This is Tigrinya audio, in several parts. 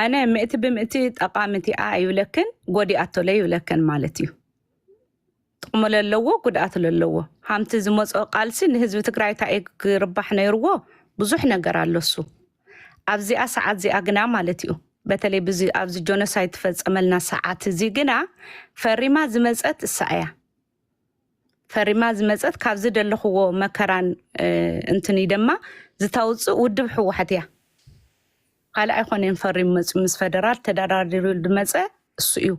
ኣነ ምእቲ ብምእቲ ጠቃሚቲኣ ኣይብለክን ጎዲኣቶ ለይብለክን ማለት እዩ ጥቅሙ ለለዎ ጉድኣት ለለዎ ሃምቲ ዝመፅኦ ቃልሲ ንህዝቢ ትግራይ እንታይ እዩ ክርባሕ ነይርዎ ብዙሕ ነገር ኣለሱ ኣብዚኣ ሰዓት እዚኣ ግና ማለት እዩ በተለይ ብዚ ኣብዚ ጆኖሳይድ ትፈፀመልና ሰዓት እዚ ግና ፈሪማ ዝመፀት እሳ እያ ፈሪማ ዝመፀት ካብ ዝደለክዎ መከራን እንትንይ ደማ ዝታውፅእ ውድብ ሕዋሕት እያ ካልእ ኣይኮነን ፈሪሙ መፅኡ ምስ ፈደራል ተዳራዲሩ ድመፀ እሱ እዩ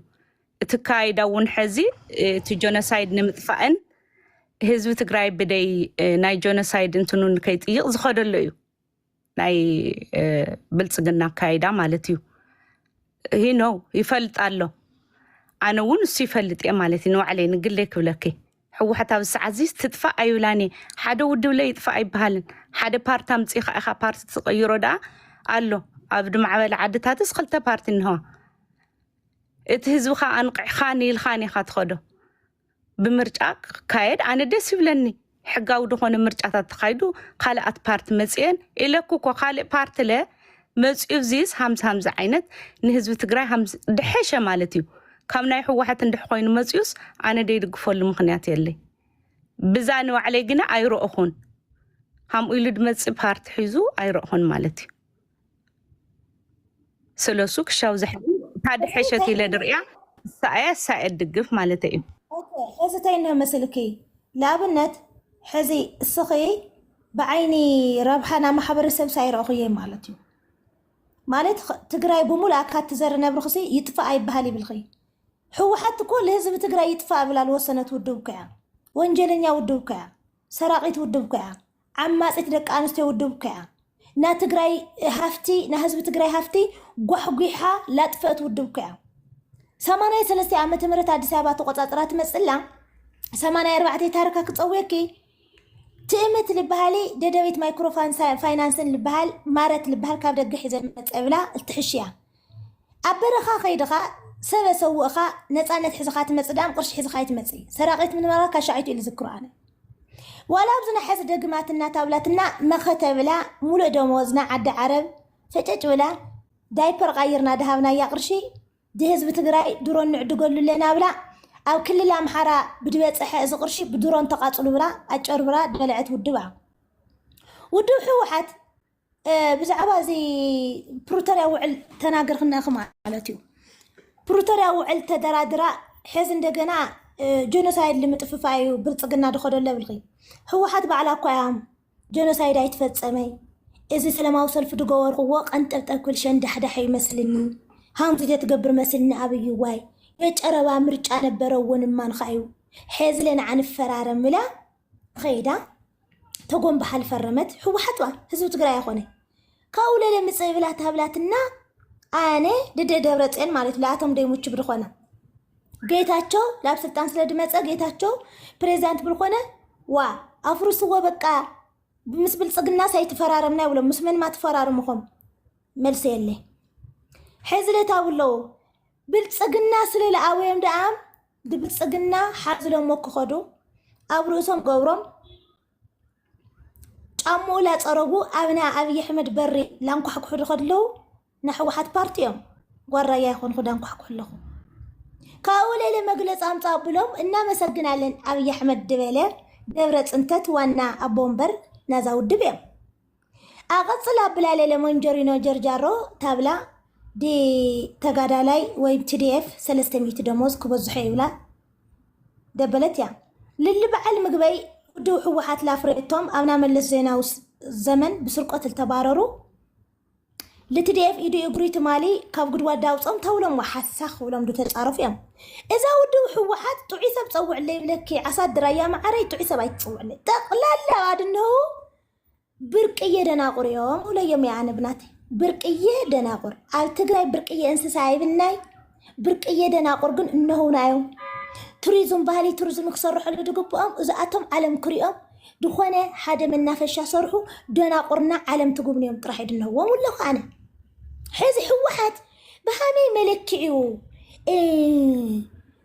እቲ ካይዳ እውን ሐዚ እቲ ጆነሳይድ ንምጥፋእን ህዝቢ ትግራይ ብደይ ናይ ጆነሳይድ እንትኑን ከይጥይቅ ዝኸደሎ እዩ ናይ ብልፅግና ኣካይዳ ማለት እዩ ሂኖ ይፈልጥ ኣሎ ኣነ እውን እሱ ይፈልጥ እየ ማለት እዩ ንባዕለይ ንግለይ ክብለኪ ሕወሓት ኣብ ሰዓት እዚ ትጥፋእ ኣይብላን እየ ሓደ ውድብ ለይ ይጥፋእ ኣይበሃልን ሓደ ፓርቲ ኣምፅእኻ ኢኻ ፓርቲ ትቐይሮ ደኣ ኣሎ ኣብ ድማዕበለ ዓድታትስ ክልተ ፓርቲ እንሆ እቲ ህዝብኻ ኣንቕዕኻን ኢልኻን ኢኻ ትኸዶ ብምርጫ ክካየድ ኣነ ደስ ይብለኒ ሕጋዊ ዝኾነ ምርጫታት ተኻይዱ ካልኣት ፓርቲ መፅኤን ኢለኩ እኮ ካልእ ፓርቲ ለ መፅኡ ዚስ ሃምዚ ሃምዚ ዓይነት ንህዝቢ ትግራይ ድሐሸ ማለት እዩ ካብ ናይ ሕወሓት እንድሕ ኮይኑ መፅኡስ ኣነ ደይድግፈሉ ምክንያት የለይ ብዛ ንባዕለይ ግና ኣይረእኹን ሃምኡ ኢሉ ድመፅእ ፓርቲ ሒዙ ኣይረእኹን ማለት እዩ ስለሱ ክሻው ዝሕዚ ሓደ ሕሸት ኢለ ድርእያ ሳኣያ ሳየ ድግፍ ማለት እዩ ሕዚ እንታይ እናመስልኪ ንኣብነት ሕዚ እስኺ ብዓይኒ ረብሓና ማሕበረሰብ ሳይረእኹየ ማለት እዩ ማለት ትግራይ ብሙሉ ኣካት ትዘር ነብርክሲ ይጥፋእ ኣይበሃል ይብልኺ ህወሓት እኮ ለህዝቢ ትግራይ ይጥፋእ ብላ ልወሰነት ውድብ ኮያ ወንጀለኛ ውድብ ኮያ ሰራቂት ውድብ ኮያ ዓማጺት ደቂ ኣንስትዮ ውድብካያ ናትግራይ ሃፍቲ ናህዝቢ ትግራይ ሃፍቲ ጓሕጒሓ ላጥፈእት ውድብካያ ሰማንያ ሰለስተ ዓመተ ምህረት ኣዲስ ኣበባ ተቆጻጽራ ትመጽላ ሰማንያ ኣርባዕተ ታርካ ክጸውየኪ ትእምት ልበሃሊ ደደቢት ማይክሮ ፋይናንስን ልበሃል ማረት ልበሃል ካብ ደገ ሒዘ መጸ ብላ እትሕሽያ ኣብ በረኻ ከይድኻ ሰበ ሰውእኻ ነፃነት ሕዝኻ ትመፅእ ድኣም ቅርሺ ሕዝኻ ኣይትመፅኢ ሰራቂት ምንባራ ካሻዒቱ ኢሉ ዝክሮ ኣነ ዋላ ኣብዚ ናሐዚ ደግማትና ታብላትና መኸተ ብላ ሙሉእ ደመወዝና ዓዲ ዓረብ ፈጨጭ ብላ ዳይፐር ቃይርና ድሃብናያ ቅርሺ ድህዝቢ ትግራይ ድሮን ንዕድገሉ ኣለና ብላ ኣብ ክልል ኣምሓራ ብድበፀሐ እዚ ቅርሺ ብድሮን ተቃፅሉ ብላ ኣጨርብራ ድበለዐት ውድባ ውድብ ሕወሓት ብዛዕባ እዚ ፕሪቶርያ ውዕል ተናገርክናኺ ማለት እዩ ፕሪቶርያ ውዕል ተደራድራ ሕዚ እንደገና ጀኖሳይድ ልምጥፍፋ እዩ ብልፅግና ድኸዶ ኣለብልኺ ህወሓት ባዕላ እኳ እያ ጀኖሳይድ ኣይትፈፀመይ እዚ ሰላማዊ ሰልፊ ድገበርክዎ ቀንጠብጠብ ክብል ሸንዳሕዳሕ ይመስልኒ ሃምዚ ዘትገብር መስልኒ ኣብዩ ዋይ የጨረባ ምርጫ ነበረ እውን እማንካ እዩ ሐዚ ለንዓ ንፈራረም ኢላ ኸይዳ ተጎንብሓ ልፈረመት ህወሓት እዋ ህዝቢ ትግራይ ኣይኮነ ካብኡ ለለ ምፅእ ብላ ታብላትና ኣነ ድደ ደብረ ፅዮን ማለት ለኣቶም ደይሙች ብድኾነ ጌታቸው ላብ ስልጣን ስለ ድመፀ ጌታቸው ፕሬዚዳንት ብልኾነ ዋ ኣፍርስዎ በቃ ምስ ብልፅግና ሳይትፈራረምና ይብሎም ምስ መን ማትፈራርምኹም መልሲ የለ ሕዚ ለታብ ኣለዎ ብልፅግና ስለ ለኣወዮም ደኣም ብልፅግና ሓዝሎሞ ክኸዱ ኣብ ርእሶም ገብሮም ጫምኡ ላፀረጉ ኣብ ናይ ኣብይ ኣሕመድ በሪ ላንኳሕኩሑ ዝኸድለዉ ናይ ሕወሓት ፓርቲ እዮም ጓል ራያ ይኾንኹ ዳንኳሕኩሑ ኣለኹ ካብኡ ሌለ መግለፂ ኣምፃ ብሎም እናመሰግናለን ኣብይ ኣሕመድ ድበለ ደብረ ፅንተት ዋና ኣቦ ወንበር ናዛ ውድብ እዮም ኣቐፅል ኣብላለ ለሞንጀሪኖ ጀርጃሮ ታብላ ዲ ተጋዳላይ ወይም ቲዲኤፍ ሰለስተ ሚእቲ ደሞዝ ክበዝሖ ይብላ ደበለት እያ ልሊ በዓል ምግበይ ውድብ ህወሓት ላፍሬቶም ኣብና መለስ ዜናዊ ዘመን ብስርቆት ዝተባረሩ ልትድኤፍ ኢዱ እግሪ ትማሊ ካብ ጉድጓድ ዳውፆም ተውሎም ሓሳኽ ክብሎም ተፃረፉ እዮም እዛ ውድብ ህወሓት ጥዑይ ሰብ ፀውዕለይ ይብለኪ ዓሳድ ድራያ መዓረይ ጥዑይ ሰብ ኣይትፅውዕለይ ጠቕላላ ኣድነው ብርቅዬ ደናቁር እዮም ሁለዮም የኣነ ብናተይ ብርቅዬ ደናቁር ኣብ ትግራይ ብርቅዬ እንስሳ ኣይብናይ ብርቅዬ ደናቁር ግን እነሆና እዮም ቱሪዝም ባህሊ ቱሪዝም ክሰርሐሉ ዝግብኦም እዚኣቶም ዓለም ክሪኦም ዝኾነ ሓደ መናፈሻ ሰርሑ ደናቁርና ዓለም ትጉብንዮም ጥራሕ ድነዎም ኣለኹ ኣነ ሕዚ ህወሓት ብሃመይ መለክዕዩ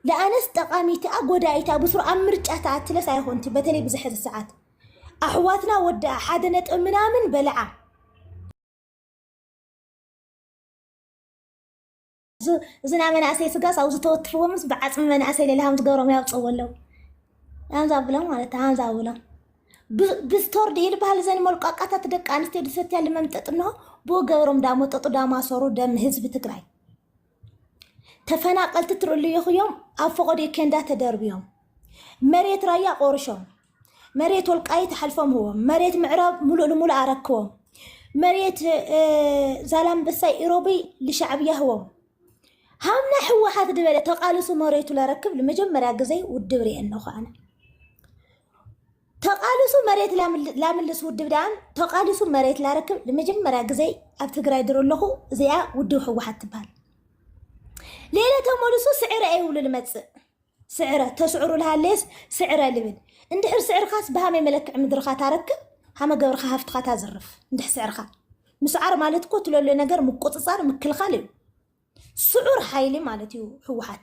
ለኣነስ ጠቃሚትኣ ጎዳኢታ ብስሩ ኣብ ምርጫ ተኣትለስ ኣይኾንቲ በተለይ ብዝሐዚ ሰዓት ኣሕዋትና ወድኣ ሓደ ነጥቢ ምናምን በልዓ እዝና መናእሰይ ስጋስ ኣብ ዝተወትፍዎምስ ብዓፅሚ መናእሰይ ሌላ ሃም ዝገሮም ያውፅዎ ኣለው ሃምዛ ብሎም ማለት ሃምዛ ብሎም ብስቶር ድዩ ዝበሃል ዘን መልቋቃታት ደቂ ኣንስትዮ ድሰትያ ልመምጠጥ እንሆ ብኡ ገብሮም ዳመጠጡ ዳማሰሩ ደም ህዝቢ ትግራይ ተፈናቀልቲ ትርልዩኹዮም ኣብ ፈቆዶ ኬንዳ ተደርብዮም መሬት ራያ ቆርሾም መሬት ወልቃይት ሓልፎም ህቦም መሬት ምዕራብ ሙሉእ ንሙሉእ ኣረክቦም መሬት ዛላምበሳይ ኢሮብይ ልሻዕብያ ህቦም ሃምና ሕወሓት ድበለ ተቃልሱ መሬቱ ለረክብ ንመጀመርያ ግዜ ውድብ ርኤ እነኹ ኣነ ተቃልሱ መሬት ላምልስ ውድብ ድኣን ተቃልሱ መሬት ላረክብ ንመጀመርያ ግዜ ኣብ ትግራይ ድሮ ኣለኹ እዚኣ ውድብ ህወሓት ትበሃል ሌለ ተመልሱ ስዕረ ይብሉ ልመፅእ ስዕረ ተስዕሩ ልሃለየስ ስዕረ ልብል እንድሕር ስዕርካስ ብሃመይ መለክዒ ምድርካ ታረክብ ሃመ ገብርካ ሃፍትካ ታዝርፍ እንድሕ ስዕርካ ምስዓር ማለት እኮ ትለሎ ነገር ምቁፅፃር ምክልኻል እዩ ስዑር ሓይሊ ማለት እዩ ህወሓት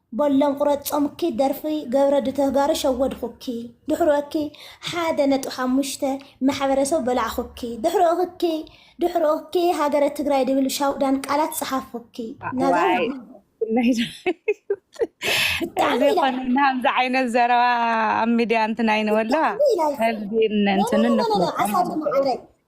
በሎም ቁረጾምኪ ደርፊ ገብረዲ ተጋሩ ሸወድኹኪ ድሕሩ እኪ ሓደ ነጥቢ ሓሙሽተ ማሕበረሰብ በላዕኹኪ ድሕሩ እኪ ድሕሩ እኪ ሃገረ ትግራይ ድብል ሻውዳን ቃላት ጸሓፍኹኪ ናዛ ዋይ ወዲ ብፍላይ ብጣዕሚ እዚ ኢላ ኮነ ናምዚ ዓይነት ዘረባ ኣብ ሚድያ እንትናይ ንበላ ብጣዕሚ ኢላ ህዝቢ ኖ ኖ እንትንን ኖ ኖ ኖ ንፍለጦም ኣሳዲ ንኽእል ማዓረይ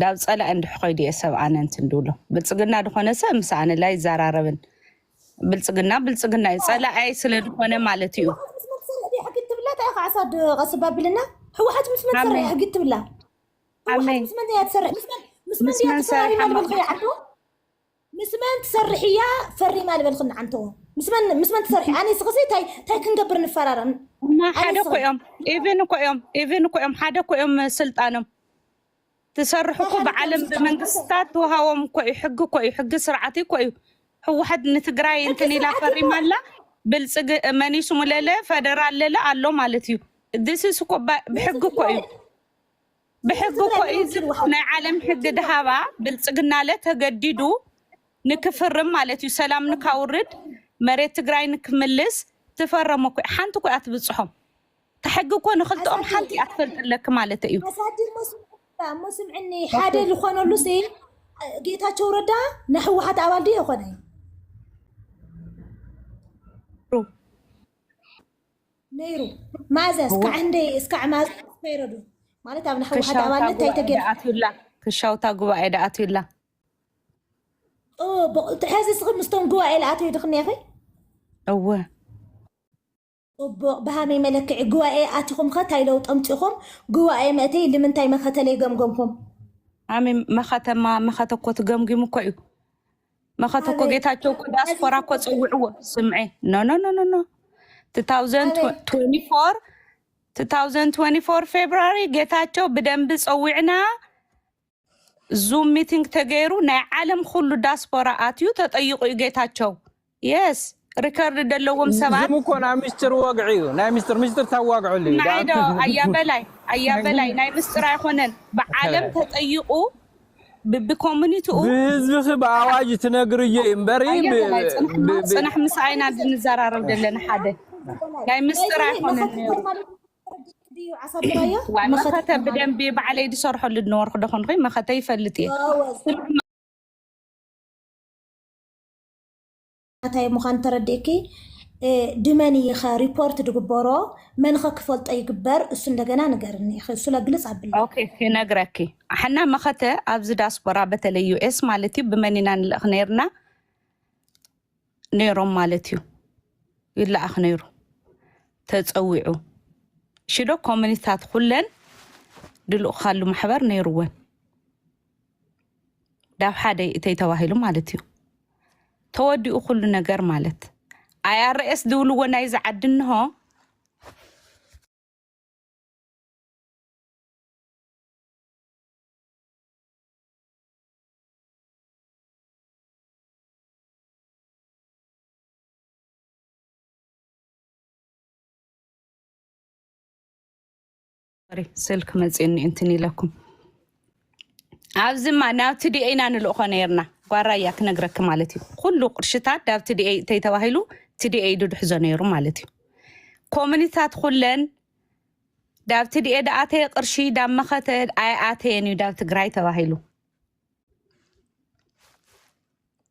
ዳብ ፀላኢ እንድሕ ኮይዱ እየ ሰብ ኣነ እንትን ድብሎ ብልፅግና ድኾነ ሰብ ምስ ኣነ ላይ ዛራረብን ብልፅግና ብልፅግና እዩ ፀላኣይ ስለ ድኾነ ማለት እዩ ስባብልና ሕወሓት ምስ መን ትሰርሕ ሕጊ ትብላ ምስ መን ትሰርሕ ምስ መን ትሰርሕ ምስ መን ትሰርሒ እያ ፈሪማ ዝበልክኒ ዓንተዎ ምስ መን ምስ መን ትሰርሒ ኣነ ስክሲ ታይ ታይ ክንገብር ንፈራረም እና ኣነ ሓደ እኮ ስክሲ እዮም ኢቭን እኮ እዮም ኢቭን እኮ እዮም ሓደ እኮ እዮም ስልጣኖም ትሰርሑ እኮ ሓደ እኮ እዮም ብዓለም ስልጣኖም። ብመንግስታት ተዋሃቦም እኮ እዩ ሕጊ እኮ እዩ ሕጊ ስርዓት እኮ እዩ ህወሓት ንትግራይ ሕጊ እንትን ኢላ ስርዓት ፈሪማ እኮ- ኣላ ብልፅግ መኒሱ ለለ ፈደራል ለለ ኣሎ ማለት እዩ ዲስስ እኮ ባ- ብሕጊ እኮ እዩ ብሕጊ እኮ እዩ እዚ ናይ ዓለም ሕጊ ድሃባ ብልፅግናለ ተገዲዱ ንክፍርም ማለት እዩ ሰላም ንካውርድ መሬት ትግራይ ንክምልስ ትፈረሞ እኮ እዩ። ሓንቲ እኮ እያ ትብፅሖም እታ ሕጊ እኮ ንክልተኦም ሓንቲ እያ ትፈልጥለኪ ማለት እዩ ኣሳድር እሞ ስምዕኒ ሓደ ዝኾነሉ ሲ ጌታቸው ረዳ ናይ ህወሓት ኣባል ድዮ የኾነ ነይሩ ማእዘ እስካዕ ህንደይ እስካዕ ማእዘ ይረዱ ማለት ኣብ ንሕወሓት ኣባልነት እንታይ ተገይሩ ኣትዩላ ክሻውታ ጉባኤ ዳ ኣትዩላ ሕዚ እስኺ ምስቶም ጉባኤ ልኣተዩ ድኽኒ ኸ እወ ፅቡቅ ብሃመይ መለክዒ ጉባኤ ኣቲኹም ኸ እንታይ ለውጢ ኣምፂኹም ጉባኤ መእተይ ልምንታይ መኸተለይ ገምገምኩም ሃመይ መኸተማ መኸተ እኮ ትገምጊሙ እኮ እዩ መኸት እኮ ኣበይ ጌታቸው እኮ ነዚ ዳስፖራ እኮ ኩሉ ፀውዕዎ ስምዐ ኖኖኖኖኖ 2024 2024 ፌብራሪ ጌታቸው ብደንቢ ፀዊዕና ዙም ሚቲንግ ተገይሩ ናይ ዓለም ኩሉ ዳስፖራ ኣትዩ ተጠይቑ እዩ ጌታቸው የስ ሪከርድ ዘለዎም ሰባት ዝም እኮ ናይ ምስጢር ወግዒ እዩ ናይ ምስጢር ምስጢር ታዋግዐሉ እዩ ንዓይ ዶ ኣያ በላይ ኣያ በላይ ናይ ምስጢር ኣይኮነን ብዓለም ተጠይቑ ብኮሚኒቲኡ ብህዝብኺ ብኣዋጅ ትነግርዮ እዩ እምበሪ ኣያ በላይ ፅንሕና ፅንሕ ምስ ኣይና ንዘራረብ ዘለና ሓደ ናይ ምስጢር ኣይኮነን ነይሩ ዋይ መኸተ ብደንቢ ባዕለይ ዝሰርሐሉ ዝነበርኩ ዶ ኮንኩ መኸተ ይፈልጥ እየ እንታይ ምዃኑ ተረዲእኪ ድመን እይኸ ሪፖርት ድግበሮ መንኸ ክፈልጦ ይግበር እሱ እንደገና ንገርኒ ኢኸ እሱ ለግልፅ ኣብለ ክነግረኪ ሓና መኸተ ኣብዚ ዳስፖራ በተለይ ዩኤስ ማለት እዩ ብመን ኢና ንልእኽ ነርና ነይሮም ማለት እዩ ይለኣኽ ነይሩ ተፀዊዑ ሽዶ ኮሚኒታት ኩለን ድልኡካሉ ማሕበር ነይርወን ዳብ ሓደ እተይ ተባሂሉ ማለት እዩ ተወዲኡ ኩሉ ነገር ማለት ኣይኣርኤስ ዝብልዎ ናይዚ ዓዲ እንሆ ስልክ መፅኒ እንትን ኢለኩም ኣብዚማ ናብቲ ዲኤ ኢና ንልእኾ ነርና ጓራያ ክነግረኪ ማለት እዩ ኩሉ ቅርሽታት ዳብቲ ዲኤ እተይ ተባሂሉ እቲ ዲኤ ኢዱ ድሕዞ ነይሩ ማለት እዩ ኮሚኒታት ኩለን ዳብቲ ዲኤ ዳኣተየ ቅርሺ ዳብ መኸተ ኣይኣተየን እዩ ዳብ ትግራይ ተባሂሉ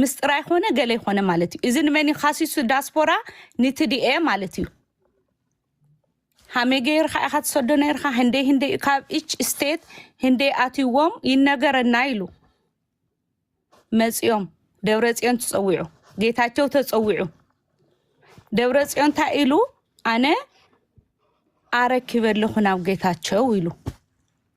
ምስጥር ኣይኮነ ገለ ይኮነ ማለት እዩ እዚ ንመን እዩ ካሲሱ ዳስፖራ ንትድኤ ማለት እዩ ሃመይ ገይርካ ኢካ ትሰዶ ነርካ ህንደይ ህንደይ እዩ ካብ ኢች ስቴት ህንደይ ኣትዎም ይነገረና ኢሉ መፂኦም ደብረ ፅዮን ተፀዊዑ ጌታቸው ተፀዊዑ ደብረ ፅዮን እንታይ ኢሉ ኣነ ኣረኪበ ኣለኹ ናብ ጌታቸው ኢሉ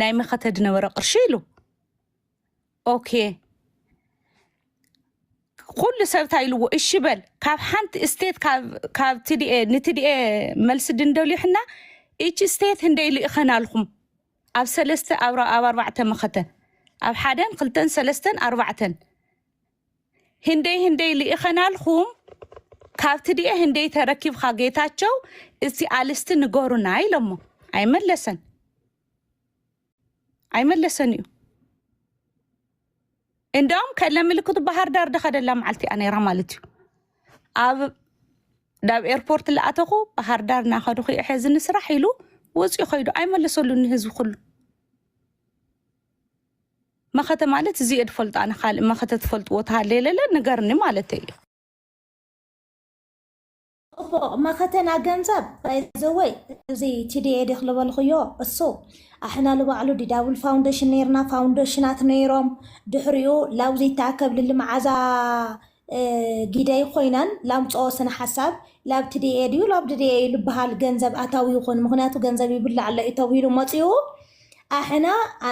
ናይ መኸተ ዝነበረ ቅርሺ ኢሉ ኦኬ ኩሉ ሰብ እንታይ ኢልዎ እሺ በል ካብ ሓንቲ ስቴት ካብ ትድኤ ንትድኤ መልሲ ድንደልዩ ሕና እቺ ስቴት ህንደይ ልእኸናልኩም ኣብ ሰለስተ ኣብ ኣርባዕተ መኸተ ኣብ ሓደን ክልተን ሰለስተን ኣርባዕተን ህንደይ ህንደይ ልኢኸናልኹም ካብ ትድኤ ህንደይ ተረኪብካ ጌታቸው እቲ ኣልስቲ ንገሩና ኢሎሞ ኣይመለሰን ኣይመለሰን እዩ እንደውም ከለ ምልክቱ ባህር ዳር ደኸደላ መዓልቲ እያ ነይራ ማለት እዩ ኣብ ናብ ኤርፖርት ለኣተኹ ባህር ዳር እናኸድኹ እየ ሕዚ ንስራሕ ኢሉ ወፂኡ ከይዱ ኣይመለሰሉን ንህዝቢ ኩሉ መኸተ ማለት እዚየ ድፈልጦ ኣነ ካልእ መኸተ ትፈልጥዎ ተሃለየለለ ንገርኒ ማለተይ እዩ። እፎ መኸተና ገንዘብ ባይዘወይ እዚ ቲዲኤ ዲኽ ልበልኹዮ እሱ ኣሕና ልባዕሉ ዲዳብል ፋውንደሽን ነይርና ፋውንደሽናት ነይሮም ድሕሪኡ ላውዚ ተኣከብ ልሊ መዓዛ ጊደይ ኮይናን ላምፅኦ ስነ ሓሳብ ላብትዲኤ ድዩ ላብድዲኤ እዩ ልበሃል ገንዘብ ኣታዊ ይኹን ምክንያቱ ገንዘብ ይብላዕ ኣሎ እዩ ተብሂሉ መፅኡ ኣሕና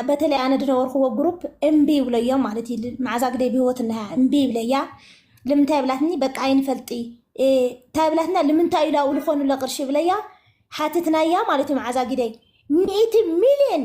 በተለይ ኣነ ድነበርክዎ ግሩፕ እምቢ ይብለዮ ማለት እዩ መዓዛ ግደይ ብህይወት እነሃ እምቢ ይብለያ ልምንታይ ብላትኒ በቃ ኣይንፈልጢ እንታይ ብላትና ልምንታይ ኢላ ውልኾኑ ለቅርሺ ብለያ ሓትትናያ ማለት እዩ መዓዛ ግደይ ሚእቲ ሚልዮን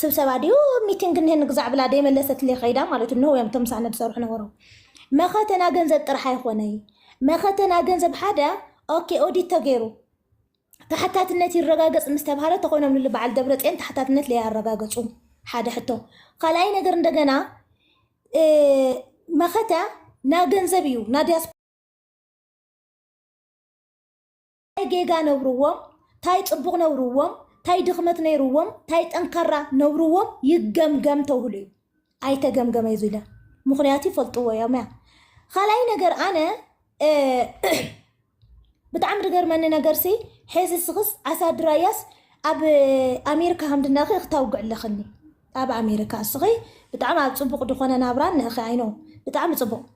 ስብሰባ ድዩ ሚቲንግ እኒሀ ንግዛዕ ብላ ደይመለሰትለይ ከይዳ ማለት እንሆ እዮም እቶም ምሳና ዝሰርሑ ነበሩ መኸተና ገንዘብ ጥራሕ ኣይኮነይ መኸተና ገንዘብ ሓደ ኦኬ ኦዲት ተገይሩ ተሓታትነት ይረጋገፅ ምስ ተባሃለ ተኾይኖም ልል በዓል ደብረፅዮን ተሓታትነት ለያረጋገፁ ሓደ ሕቶ ካልኣይ ነገር እንደገና እ፣ መኸተ ና ገንዘብ እዩ ና ዲያስፖራ ታይ ጌጋ ነብርዎም ታይ ፅቡቅ ነብርዎም ታይ ድክመት ነይርዎም ታይ ጠንካራ ነብርዎም ይገምገም ተብህሉ እዩ ኣይተገምገመ እዩ ዝለ ምክንያቱ ይፈልጥዎ እዮም እያ ካልኣይ ነገር ኣነ ብጣዕሚ ዝገርመኒ ነገር ሲ ሐዚ ስክስ ዓሳድራያስ ኣብ ኣሜሪካ ከምድናኺ ክታውግዕ ኣለኽኒ ኣብ ኣሜሪካ እስኺ ብጣዕሚ ኣብ ፅቡቅ ዝኾነ ናብራ ንእኺ ኣይኖ ብጣዕሚ ፅቡቅ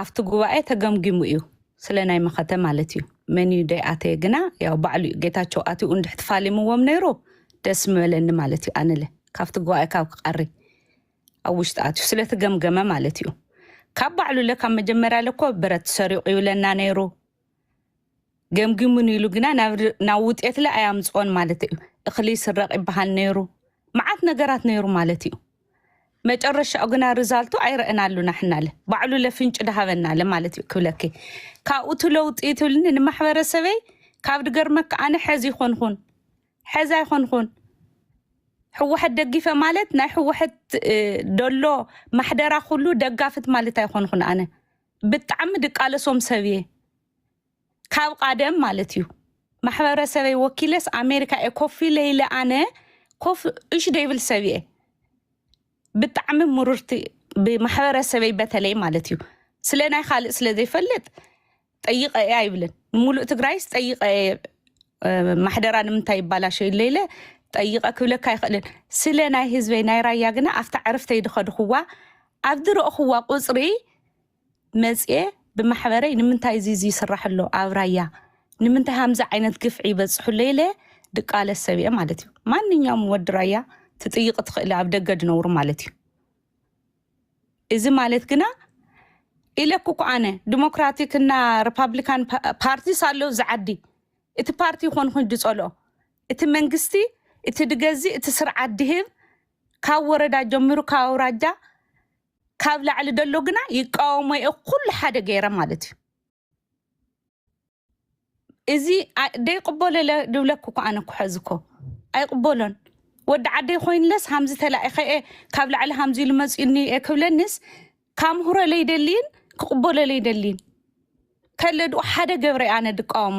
ኣብቲ ጉባኤ ተገምጊሙ እዩ ስለ ናይ መኸተ ማለት እዩ መን እዩ ደይ ኣተየ ግና ያው ባዕሉ እዩ ጌታቸው ኣትኡ እንድሕ ትፋሊምዎም ነይሩ ደስ ምበለኒ ማለት እዩ ኣነለ ካብቲ ጉባኤ ካብ ክቀሪ ኣብ ውሽጢ ኣትዩ ስለተገምገመ ማለት እዩ ካብ ባዕሉ ለ ካብ መጀመርያ ለኮ ብረት ሰሪቑ ይብለና ነይሩ ገምጊሙኒ ኢሉ ግና ናብ ውጤትለ ኣያምፅኦን ማለት እዩ እኽሊ ይስረቕ ይበሃል ነይሩ መዓት ነገራት ነይሩ ማለት እዩ መጨረሻኡ ግና ርዛልቱ ኣይረአናሉና ሕናለ ባዕሉ ለፍንጭ ድሃበናለ ማለት እዩ ክብለኪ ካብኡቲ ለውጢ ትብልኒ ንማሕበረሰበይ ካብ ድገርመካ ኣነ ሕዚ ይኮንኹን ሕዚ ኣይኮንኹን ሕወሐት ደጊፈ ማለት ናይ ሕወሐት ደሎ ማሕደራ ኩሉ ደጋፍት ማለት ኣይኮንኹን ኣነ ብጣዕሚ ድቃለሶም ሰብ እየ ካብ ቃደም ማለት እዩ ማሕበረሰበይ ወኪለስ ኣሜሪካ እየ ኮፍ ኢለ ኢለ ኣነ ኮፍ እሽ ደይብል ሰብ እየ ብጣዕሚ ምሩርቲ ብማሕበረሰበይ በተለይ ማለት እዩ ስለ ናይ ካልእ ስለ ዘይፈልጥ ጠይቀ እየ ኣይብልን ሙሉእ ትግራይስ ጠይቀ እየ እ፣ ማሕደራ ንምንታይ ይባላሸ ኢለ ኢለ ጠይቀ ክብለካ ኣይኽእልን ስለ ናይ ህዝበይ ናይ ራያ ግና ኣብታ ዕርፍተይ ድኸድኹዋ ኣብ ዝረእኹዋ ቁፅሪ መፅየ ብማሕበረይ ንምንታይ እዚ እዚ ይስራሕ ኣሎ ኣብ ራያ ንምንታይ ሃምዚ ዓይነት ግፍዒ ይበፅሑ ኣሎ ኢለ ድቃለስ ሰብ እየ ማለት እዩ ማንኛውም ወዲ ራያ ትጥይቅ ትኽእሊ ኣብ ደገ ድነብሩ ማለት እዩ እዚ ማለት ግና ኢለኩ እኮ ኣነ ዲሞክራቲክ እና ሪፓብሊካን ፓርቲስ ኣሎ እዚ ዓዲ እቲ ፓርቲ ይኾን ኮይኑ ድፀልኦ እቲ መንግስቲ እቲ ድገዝእ እቲ ስርዓት ድህብ ካብ ወረዳ ጀሚሩ ካብ ኣውራጃ ካብ ላዕሊ ደሎ ግና ይቃወሞ እየ ኩሉ ሓደ ገይረ ማለት እዩ እዚ ኣ- ደይቅበሎ ኢለ ድብለኩ እኮ ኣነ እኮ ሕዚ እኮ ኣይቅበሎን ወዲ ዓደይ ኮይንለስ ሃምዚ ተላኢኸ እየ ካብ ላዕሊ ሃምዚ ኢሉ መፅኡኒ እየ ክብለኒስ ካምህሮ ለይደልይን ክቅበሎ ለይደልይን ከለድኡ ሓደ ገብረ እየ ኣነ ድቃወሞ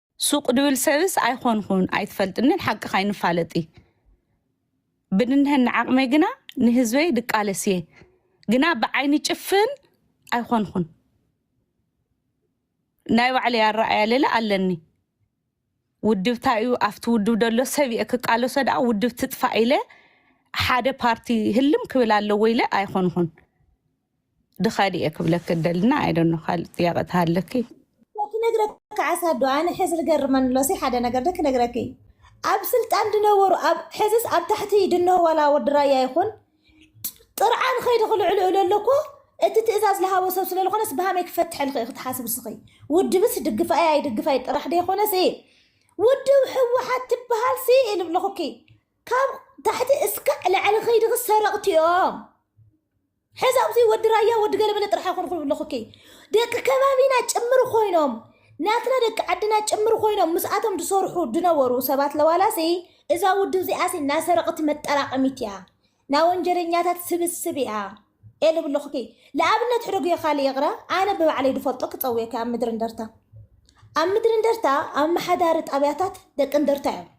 ሱቅ ድብል ሰብስ ኣይኮንኹን ኣይትፈልጥንን ሓቅኻ ኣይንፋለጢ ብንንሀኒ ዓቅመይ ግና ንህዝበይ ድቃለስ እየ ግና ብዓይኒ ጭፍን ኣይኮንኹን ናይ ባዕለይ ኣረኣያ ለለ ኣለኒ ውድብታ እዩ ኣብቲ ውድብ ደሎ ሰብ እየ ክቃለሶ ደኣ ውድብ ትጥፋእ ኢለ ሓደ ፓርቲ ህልም ክብል ኣለዎ ኢለ ኣይኮንኹን ድኻ ድየ ክብለኪ እደሊ እና ኣይ ዶኖ ካልእ ጥያቀ ተሃለኪ። ክነግረኪ ዓሳ ዶ ኣነ ሕዚ ዝገርመኒ ኣሎ ሲ ሓደ ነገር ዶ ክነግረኪ ኣብ ስልጣን ድነበሩ ኣብ ሕዝስ ኣብ ታሕቲ ድንሆ ዋላ ወዲ ራያ ይኹን ጥርዓን ኸይዲ ክልዕሉ እለ ኣለኮ እቲ ትእዛዝ ዝሃቦ ሰብ ስለ ዝኾነስ ብሃመይ ክፈትሐልኺ እየ ክትሓስብ ስኺ ውድብስ ድግፋይ ኣይድግፋይ ጥራሕ ዶ ይኾነስ እየ ውድብ ሕወሓት ትበሃል ሲ ኢሉ ኣለኹኪ ካብ ታሕቲ እስካዕ ላዕሊ ኸይድኺ ሰረቕቲ እዮም ሕዚ ኣብዚ ወዲ ራያ ወዲ ገለመለ ጥራሕ ኣይኮንኹን ኣለኹኪ ደቂ ከባቢና ጭምር ኮይኖም ናትና ደቂ ዓድና ጭምር ኮይኖም ምስኣቶም ዝሰርሑ ዝነበሩ ሰባት ለዋላሲ እዛ ውድብ እዚኣሲ ናይ ሰረቕቲ መጠራቐሚት እያ ናይ ወንጀለኛታት ስብስብ እያ እየ ልብል ኣለኹኪ ንኣብነት ሕደጉ እየ ካልእ ይቕረ ኣነ ብባዕለይ ዝፈልጦ ክፀውየኪ ኣብ ምድሪ እንደርታ ኣብ ምድሪ እንደርታ ኣመሓዳሪ ጣብያታት ደቂ እንደርታ እዮም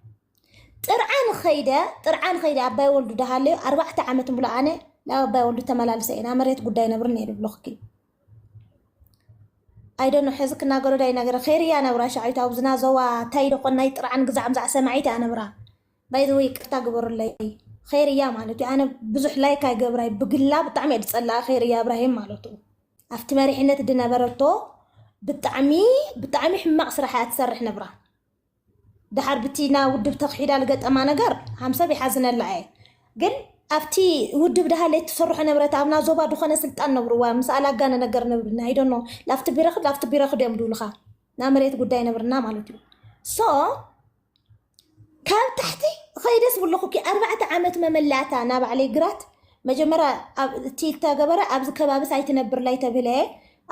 ጥርዓን ኸይደ ጥርዓን ኸይደ ኣባይ ወልዱ ዳሃለዩ ኣርባዕተ ዓመት ሙሉ ኣነ ናብ ኣባይ ወልዱ ተመላልሰ ኢና መሬት ጉዳይ ነብር ነይሩ ብሎኽኪ ኣይደኖ ሕዚ ክናገሮ ዳይ ነገረ ኸይርያ ነብራ ሻዒት ኣብ ዝናዘዋ ታይ ደኾን ናይ ጥርዓን ግዛዕ ምዛዕ ሰማዒት እያ ነብራ ባይዘወ ይቅርታ ግበሩለይ ኸይርያ ማለት እዩ ኣነ ብዙሕ ላይክ ኣይገብራይ ብግላ ብጣዕሚ እየ ዝፀላኣ ኸይርያ እብራሂም ማለት እዩ ኣብቲ መሪሕነት ድነበረቶ ብጣዕሚ ብጣዕሚ ሕማቅ ስራሕ እያ ትሰርሕ ነብራ ደሓር ብቲ ናብ ውድብ ተኽሒዳ ልገጠማ ነገር ሃምሰብ ይሓዝነላ እየ ግን ኣብቲ ውድብ ደሃለ ትሰርሖ ነበረት ኣብና ዞባ ድኾነ ስልጣን ነብርዋ ምስ ኣላጋነ ነገር ነብርና ኣይዶኖ ላፍቲ ቢረኽድ ላፍቲ ቢረኽድ እዮም ድብልኻ ና መሬት ጉዳይ ነብርና ማለት እዩ ሶ ካብ ታሕቲ ኸይደስ ብለኹኪ ኣርባዕተ ዓመት መመላእታ ናባዕለይ ግራት መጀመርያ ኣብ እቲ እተገበረ ኣብዚ ከባብስ ኣይትነብርላይ ተብህለ እየ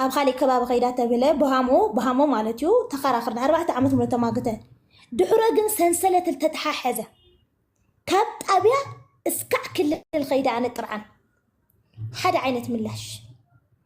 ኣብ ኻሊእ ከባቢ ከይዳ ተብህለ ቦሃሞ ብሃሞ ማለት እዩ ተኸራኽር ንኣርባዕተ ዓመት ሙሉእ ተማግተ ድሑረ ግን ሰንሰለት ተተሓሐዘ ካብ ጣብያ እስካዕ ክልል ከይዳ ኣነ ጥርዓን ሓደ ዓይነት ምላሽ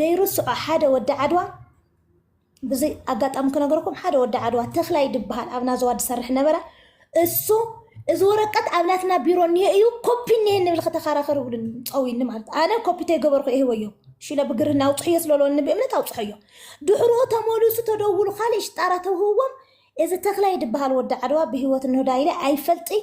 ደይርስዖ ሓደ ወዲ ዓድዋ ብዚ ኣጋጣሚ ክነገረኩም ሓደ ወዲ ዓድዋ ተክላይ ድበሃል ኣብ ናዘዋ ዝሰርሕ ነበረ እሱ እዚ ወረቀት ኣብ ናትና ቢሮ እኒሀ እዩ ኮፒ እኒሀ ንብል ከተከራከር ይብሉ ፀዊኒ ማለት ኣነ ኮፒ ተይገበርኩ ይህወዮ ሽለ ብግርህና ኣውፅሕዮ ስለለወኒ ብእምነት ኣውፅሐዮ ድሕሮ ተመልሱ ተደውሉ ካልእ ሽጣራ ተውህዎም እዚ ተክላይ ድበሃል ወዲ ዓድዋ ብሂወት እንሆዳይለ ኣይፈልጥይ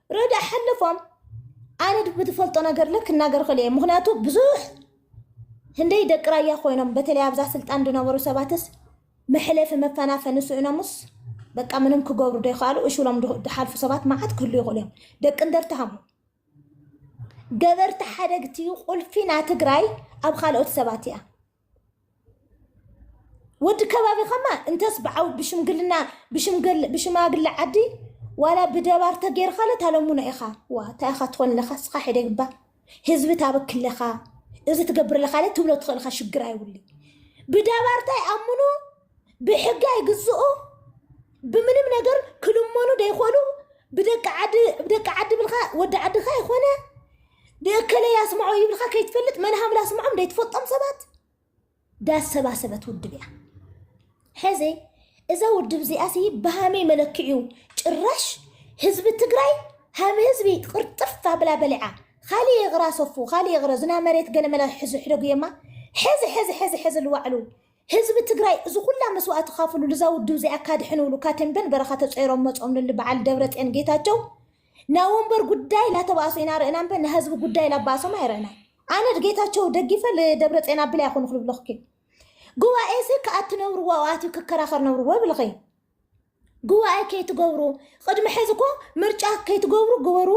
ረዳ ሓለፎም ኣነ ብትፈልጦ ነገር ልክ ክናገር ክእል እየ ምክንያቱ ብዙሕ ህንደይ ደቂ ራያ ኮይኖም በተለይ ኣብዛ ስልጣን ዝነበሩ ሰባትስ መሕለፊ መፈናፈኒ ስእኖምስ በቃ ምንም ክገብሩ ዘይከኣሉ እሽሎም ዝሓልፉ ሰባት መዓት ክህሉ ይኽእሉ እዮም። ደቂ እንደርታ ሃሙ ገበርቲ ሓደግቲ ቁልፊ ና ትግራይ ኣብ ካልኦት ሰባት እያ። ወዲ ከባቢ ከማ እንተስ ብዓው ብሽምግልና ብሽምግል ብሽማግለ ዓዲ ዋላ ብደባር ተገይርካለ ታለሙኖ ኢኻ ዋ እንታይ ኢኻ ትኾን ኣለኻ እስኻ ሒደ ግባ ህዝቢ ታበኪ ኣለኻ እዚ ትገብር ኣለኻ ትብሎ ትኽእል ኢኻ ሽግር ኣይብሉ ብደባር እንታይ ኣምኑ ብሕጊ ኣይግዝኡ ብምንም ነገር ክልመኑ ደይኮኑ ብደቂ ዓዲ ብደቂ ዓዲ ብልካ ወዲ ዓድካ ይኮነ ብእከለ ያስምዖ ይብልካ ከይትፈልጥ መን ሃምላ ኣስምዖም ደይትፈልጦም ሰባት ዳሰባሰበት ውድብ እያ ሕዚ እዛ ውድብ እዚኣ ሲ ብሃመይ መለክዕዩ ጭራሽ ህዝቢ ትግራይ ሃም ህዝቢ ቅርጥፍ ኣብላ በሊዓ ካሊእ ይቕራ ሰፉ ካሊእ ይቕረ ዝና መሬት ገለመላ ሕዚ ሕደጉ የማ ሕዚ ሕዚ ሕዚ ሕዚ ልዋዕሉ ህዝቢ ትግራይ እዚ ኩላ መስዋእቲ ካፍሉ ልዛ ውድብ እዚኣ ካድሕንውሉ ካቴምበን በረኻ ተጸይሮም መጾም ልል በዓል ደብረጼን ጌታቸው ናወንበር ጉዳይ ላተባእሱ ኢና ርእና እምበ ናህዝቢ ጉዳይ ላባእሶም ኣይረእናን ኣነ ድጌታቸው ደጊፈ ልደብረጼን ኣብል ኣይኮኑ ክልብለኽኪ ጉባኤ እዚ ከኣትነብርዎ ኣትዩ ክከራኸር ነብርዎ ብልኸይ ጉባኤ ከይትገብሩ ቅድሚ ሕዚ እኮ ምርጫ ከይትገብሩ ግበሩ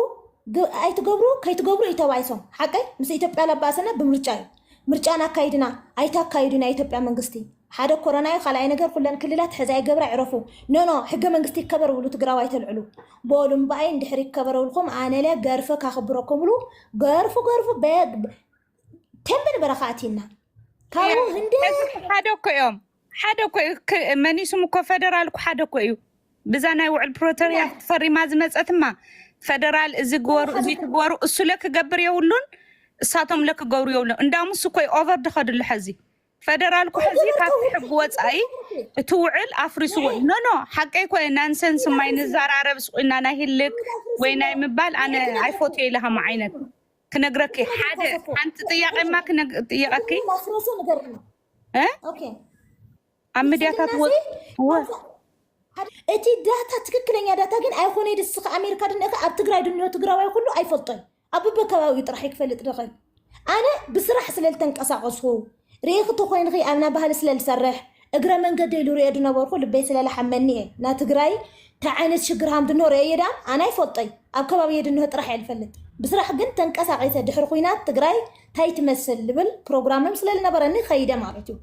ግ- ኣይትገብሩ ከይትገብሩ እዩ ተባይሶም ሓቀይ ምስ ኢትዮጵያ ለባእሰና ብምርጫ እዩ ምርጫን ኣካይድና ኣይታካይዱ ናይ ኢትዮጵያ መንግስቲ ሓደ ኮረና እዩ ካልኣይ ነገር ኩለን ክልላት ሕዚ ኣይገብራ ዕረፉ ኖኖ ሕገ መንግስቲ ይከበር ብሉ ትግራዋይ ተልዕሉ በሉ እምበኣይ እንድሕር ይከበረብልኩም ኣነለ ገርፈ ካክብረኩም ብሉ ገርፉ ገርፉ በ- ተንብን በረኻ ኣትይና ካብኡ ህንደ ሕዚ እኮ ሓደ እኮ እዮም ሓደ እኮ እዩ ክ- መኒሱም እኮ ፈደራል እኮ ሓደ እኮ እዩ ብዛ ናይ ውዕል ፕሪቶሪያ ፈሪማ ዝመፀትማ ፈደራል እዚ ግበሩ እዚ ትግበሩ እሱ ለክገብር የብሉን እሳቶም ለክገብሩ የብሉን እንዳሙ እሱ እኮ ኦቨር ድኸድሉ ሕዚ ፈደራል እኮ ሕዚ ካብቲ ሕጊ ወፃኢ እቲ ውዕል ኣፍሪስዎ እዩ። ኖ ኖ ሓቀይ እኮ እዩ ናንሰንስ ማይ ንዘራረብ ስቁና ናይ ህልክ ወይ ናይ ምባል ኣነ ኣይፎትዮ ኢለ ከም ዓይነት ክነግረኪ ሓደ ሓንቲ ጥያቄማ ጥየቀኪ ኣብ ምድያታት እቲ ዳታ ትክክለኛ ዳታ ግን ኣይኮነ ድስክ ኣሜሪካ ድንእከ ኣብ ትግራይ ድንዮ ትግራዋይ ኩሉ ኣይፈልጦን ኣብ በከባቢኡ ጥራሕ ክፈልጥ ድኽእል ኣነ ብስራሕ ስለልተንቀሳቀስኩ ሪኢኺ ተኾይንኺ ኣብና ባህሊ ስለ ልሰርሕ እግረ መንገደይ ልሪኦ ድነበርኹ ልበይ ስለ ላሓመኒ እየ ናትግራይ ታይ ዓይነት ሽግር ሃምድኖ ሪኤዮ ዳኣ ኣነ ኣይፈልጦይ ኣብ ከባቢየ ድንሆ ጥራሕ እየ ልፈልጥ ብስራሕ ግን ተንቀሳቂሰ ድሕሪ ኹናት ትግራይ ታይ ትመስል ልብል ፕሮግራምም ስለ ልነበረኒ ኸይደ ማለት እዩ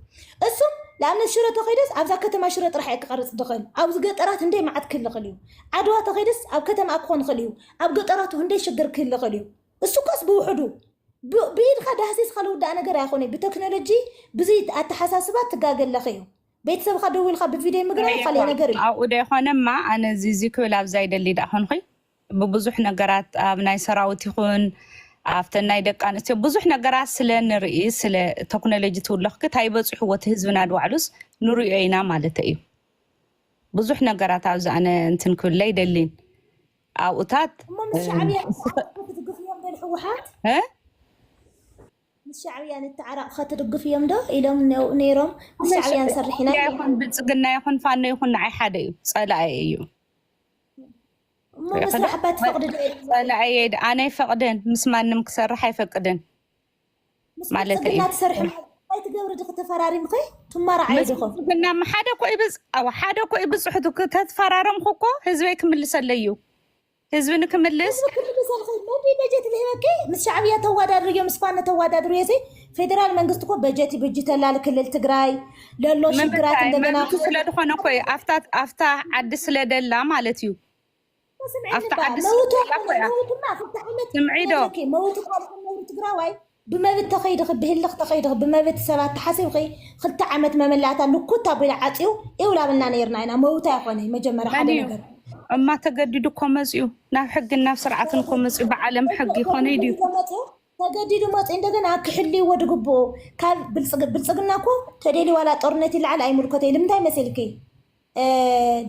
እሱ ንኣብነት ሽረ ተኸይደስ ኣብዛ ከተማ ሽረ ጥራሕ እየ ክቐርፅ ድኽእል ኣብዚ ገጠራት እንደይ መዓት ክህልኽል እዩ ዓድዋ ተኸይደስ ኣብ ከተማ ክኾን ኽእል እዩ ኣብ ገጠራቱ እንደይ ሽግር ክህልኽል እዩ እሱኮስ ብውሕዱ ብኢድካ ዳህሲስካ ልውዳእ ነገር ኣይኮነይ ብተክኖሎጂ ብዙይ ኣተሓሳስባ ትጋገ ኣለኺ እዩ ቤተሰብካ ደው ኢልካ ብቪደይ ምግራ ካልይ ነገር እዩ ኣብኡ ደይኮነማ ኣነ እዚ እዚ ክብል ኣብዛ ይደሊ ዳኣ ኮንኹይ ብብዙሕ ነገራት ኣብ ናይ ሰራዊት ይኹን ኣብተን ናይ ደቂ ኣንስትዮ ብዙሕ ነገራት ስለ ንርኢ ስለ ቴክኖሎጂ ትውለኽኪ እንታይ በፂሕዎ እቲ ህዝብና ድባዕሉስ ንሪኦ ኢና ማለት እዩ ብዙሕ ነገራት ኣብዚ ኣነ እንትን ክብለ ኣይደሊን ኣብኡታት እሞ ምስ ሻዕብያ ንተዓረቕ ከትድግፍ እዮም ዶ ንሕወሓት ምስ ሻዕብያ ንተዓረቕ ከትድግፍ እዮም ዶ ኢሎም ነይሮም ምስ ሻዕብያ ንሰርሕ ኢና ኢሎም ይኹን ብልፅግና ይኹን ፋኖ ይኹን ንዓይ ሓደ እዩ ፀላኣየ እዩ እሞ ምስራሕ እባ ትፈቕዲ ዶ ፀላኣየ ኣነ ኣይፈቕድን ምስ ማንም ክሰርሕ ኣይፈቅድን ምስ ማለተ እዩ ብልፅግና ትሰርሒ ማለት እንታይ ትገብሪ ድኺ ተፈራሪምኺ ትማራዓይ ምስ ድኹ ብልፅግና እማ ሓደ እኮ እዩ ብፅ ኣዋ ሓደ እኮ እዩ ብፅሕቱ ክ- ተትፈራረምኩ እኮ ህዝበይ ክምልሰለይ እዩ ህዝቢ ንክምልስ ህዝቢ ክልል ሰልኺ ነቢ በጀት ልህበኪ ምስ ሻዕብያ ተዋዳድርዮ ምስ ፋኖ ተዋዳድርዮ ሲ ፌደራል መንግስቲ እኮ በጀት ይብጅተላ ክልል ትግራይ ለሎ ሽግራት ምምታይ እንደገና መብቱ ስለ ዝኾነ እኮ እዩ ኣብታ ኣብታ ዓዲ ስለ ደላ ማለት እዩ ኣብቲ ዓዲ ስምዒዶ መውት ነውሪ ትግራዋይ ብመብት ተኸይድኺ ብህልኽ ተኸይድኺ ብመብት ሰባት ተሓሲብኺ ክልተ ዓመት መመላእታ ልኩት ኣቢላ ዓፅዩ ይውላብና ነርና ኢና መውት ኣይኮነ መጀመርያ ሓደ ነገር እማ ተገዲዱ እኮ መፅኡ ናብ ሕግን ናብ ስርዓትን እኮ መፅኡ ብዓለም ሕጊ ይኮነ ድዩ ተገዲዱ መፅኡ እንደገና ክሕልይዎ ድግብኡ ካብ ብልፅግና እኮ ተደልዩ ዋላ ጦርነት ይለዓል ኣይምልኮተይ ልምንታይ መሲልኪ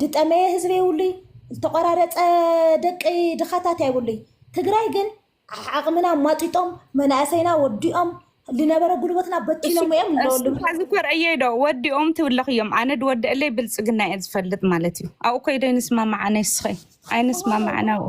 ድጠመየ ህዝቢ የብሉይ፣ ዝተቆራረፀ ደቂ ድኻታት ኣይብሉይ። ትግራይ ግን ዓቕምና ማጢጦም መናእሰይና ወዲኦም ዝነበረ ጉልበትና በቲኖም እዮም ኣለሉ ሕዚ ኮርዕየይ ዶ ወዲኦም ትብለኽ እዮም ኣነ ድወደአለይ ብልፅግና እየ ዝፈልጥ ማለት እዩ ኣብኡ ኮይደ ይንስማማዕ ኣነስኸ ኣይንስማማዕን ኣብኡ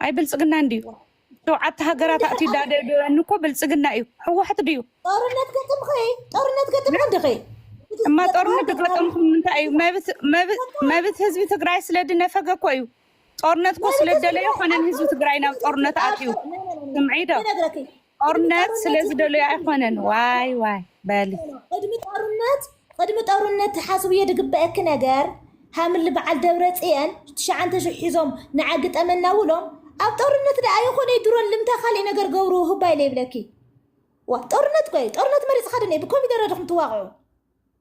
ኣይ ብልፅግና እንድዩ ሸውዓተ ሃገራት ኣእትዩ ዳደብደበኒ እኮ ብልፅግና እዩ ሕወሓት ድዩ ጦርነት ገጥምኺ ጦርነት ገጥምኺ እንድኺ እማ ጦርነት ዝገጠምኩም እንታይ እዩ መብት- መብት- መብት ህዝቢ ትግራይ ስለ ድነፈገ እኮ እዩ ጦርነት እኮ ስለ ደለዮ ኮነን ህዝቢ ትግራይ ናብ ጦርነት ኣትዩ ስምዒ ዶ ይነግረኪ ጦርነት ስለዝደለዩ ኣይኮነን ዋይ ዋይ በሊ ቅድሚ ጦርነት ቅድሚ ጦርነት ትሓስብዮ ዝግበአኪ ነገር ሃምሊ በዓል ደብረ ፅየን ትሽዓንተ ሽሕ ሒዞም ንዓ ግጠመና ውሎም ኣብ ጦርነት ደኣ ይኹን ድሮን ልምታ ካልእ ነገር ገብሩ ህባ ኢለ ይብለኪ ዋ ጦርነት ቆይ ጦርነት መሪፅካ ድኒ ብኮሚደረ ድኹም ትዋቕዑ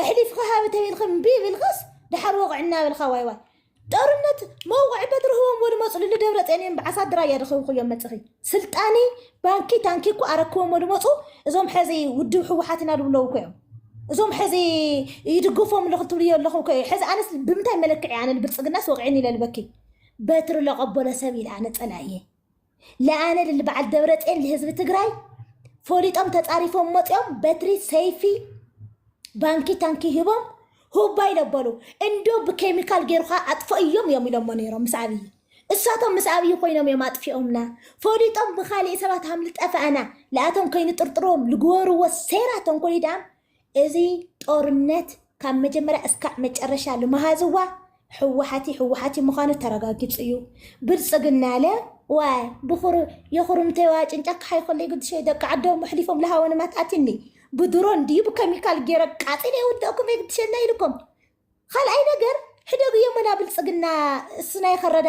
ኣሕሊፍካ ሃብ ተቢልካ እምቢ ኢልካስ ድሓር ወቕዕ እናበልካ ዋይ ዋይ ጦርነት መውቕዒ በትሪ ህቦም ወድመፁ ልደብረፅዮን እዮም ብዓሳት ድራያ ድኸብኹ እዮም መፅኺ ስልጣኒ ባንኪ ታንኪ እኮ ኣረክቦም ወድመፁ እዞም ሕዚ ውድብ ህወሓት ኢና ድብለው እኮ እዮም እዞም ሕዚ ይድግፎም ኣለኹ ትብሉ ኣለኹም ኮ ሕዚ ኣነስ ብምንታይ መለክዒ ኣነ ብልፅግናስ ወቂዕኒ ኢለ ልበኪ በትሪ ለቐበሎ ሰብ ኢለ ኣነ ፀላእ እየ ለኣነ ልል በዓል ደብረፅዮን ልህዝቢ ትግራይ ፈሊጦም ተፃሪፎም መፅኦም በትሪ ሰይፊ ባንኪ ታንኪ ሂቦም ሁባይ ለበሉ እንዶ ብኬሚካል ገይሩካ ኣጥፍእዮም እዮም ኢሎሞ ነይሮም ምስ ኣብዪ እሳቶም ምስ ኣብዪ ኮይኖም እዮም ኣጥፊኦምና ፈሊጦም ብካሊእ ሰባት ሃምልጠፈኣና ለኣቶም ከይንጥርጥሮም ልግበርዎ ሴራ ተንኮል ድኣም እዚ ጦርነት ካብ መጀመርያ እስካዕ መጨረሻ ልመሃዝዋ ህወሓት እዩ ህወሓት እዩ ምዃኑ ተረጋጊፁ እዩ ብልፅግና ለ ዋይ ብኹሩ የኹሩምተዋ ጭንጫ ክሓይ ኮሎ ይግድሸ ደቂ ዓዶም ኣሕሊፎም ለሃወንማት ኣትኒ ብድሮ እንዲዩ ብከሚካል ገይረ ቃፂለ የውድእኩም የግድሸና ኢልኩም ካልኣይ ነገር ሕደጉ የመና ብልፅግና እስናይ ከረዳዳ